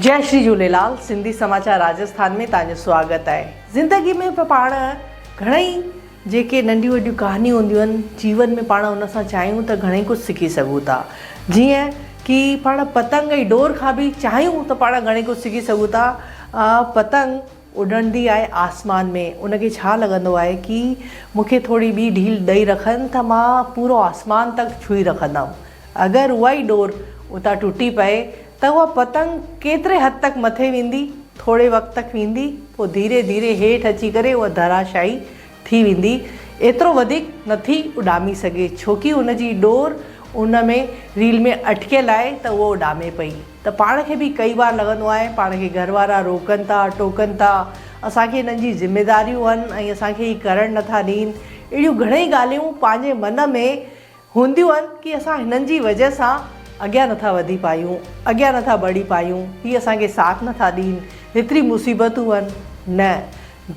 جئ شري جهوليلال سنڌي سماچار راجسٿان ۾ تهانجو سواگت آهي زندگي ۾ پاڻ گهڻئي جيڪي ننڍيون وڏيون ڪهانيون هونديون آهن جيون ۾ پاڻ ان سان چاهيون ته گهڻئي ڪجهه سکي سگهون ٿا جيئن ڪي پاڻ پتنگ ۽ ڊور کان به چاهيون ته پاڻ گهڻئي ڪجهه سکي سگهون ٿا پتنگ اڏندي آهي آسمان ۾، ان کي ڇا لڳندو آهي ڪي مون کي ٿوري ٻي ڍيل ڏئي رکن ته مان پورو آسمان تڪ ڇهي رکندم. اگر اها ئي ڏور اتان ٽٽي پئي ته اها پتنگ ڪيتري حد تڪ مٿي ويندي، ٿوري وقت تڪ ويندي، پوء ڌيري ڌيري هيٺ اچي ڪري اها ڌراشاهي ٿي ويندي ايترو وڌيڪ نه ٿي اڏامي سگهي ڇوڪي ان جي ڏور ان ۾ ريل ۾ اٽڪيل آهي ته اهو اڏامي پئي ته پاڻ کي به ڪئي وار لڳندو آهي پاڻ کي گهر وارا روڪن ٿا ٽوڪن ٿا اسان کي انهن جي ذميداريون آهن ۽ اسان کي هي ڪرڻ نه ٿا ڏين اهڙيون گهڻئي ڳالهيون پنهنجي من ۾ هونديون آهن ڪي اسان هنن جي وجه سان اڳيان نه ٿا وڌي پايون اڳيان نه ٿا بڙهي پايون هي اسان کي ساٿ نه ٿا ڏين هيتري مصيبتون هن نه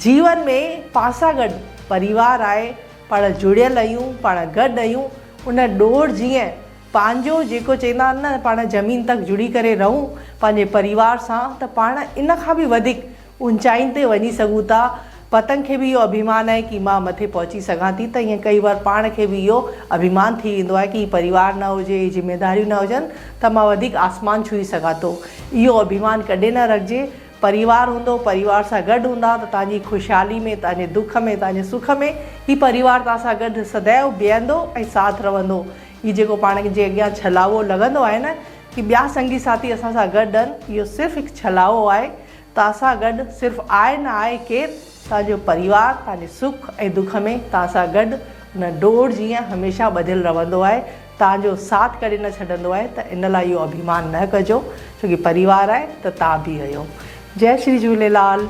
جيون ۾ پاسا گڏ پريوار آهي پاڻ جڙيل اهيون پاڻ گڏ اهيون ان ڏور جيئن پنهنجو جيڪو چيندا آهن نه پاڻ زمين تڪ جڙي ڪري رهون پنهنجي پريوار سان ته پاڻ ان کان به وڌيڪ اونچائين تي وڃي سگهون ٿا. پتنگ کي به اهو اڀيمان آهي ڪي مان مٿي پهچي سگهان ٿي ته ائين ڪئي بار پاڻ کي به اهو اڀيمان ٿي ويندو آهي ڪي هي پريوار نه هجي، هي ذميداريون نه هجن ته مان وڌيڪ آسمان ڇهي سگهان ٿو. اهو اڀيمان ڪڏهن نه رکجي. پريوار هوندو، پريوار سان گڏ هوندا ته توهان جي خوشحالي ۾، توهان جي دک ۾، توهان جي سک ۾ هي پريوار توهان سان گڏ سدائين بيهندو ۽ ساٿ رهندو. هي جيڪو پاڻ جي اڳيان ڇلاوو لڳندو آهي نه ڪي ٻيا سنگي ساٿي اسان سان گڏ هن اهو صرف هڪ ڇلاوو آهي. توهان سان گڏ صرف آء نه آء ڪير توهان جو پريوار توهان جي سک ۽ دک ۾ توهان سان گڏ ان ڊوڙ جيئن هميشه ٻڌل رهندو آهي توهان جو ساٿ ڪڏهن نه ڇڏندو آهي ته ان لاء اهو اڀيمان نه ڪجو ڇوڪي پريوار آهي ته توهان به اهيو جئي شري جهوليلال.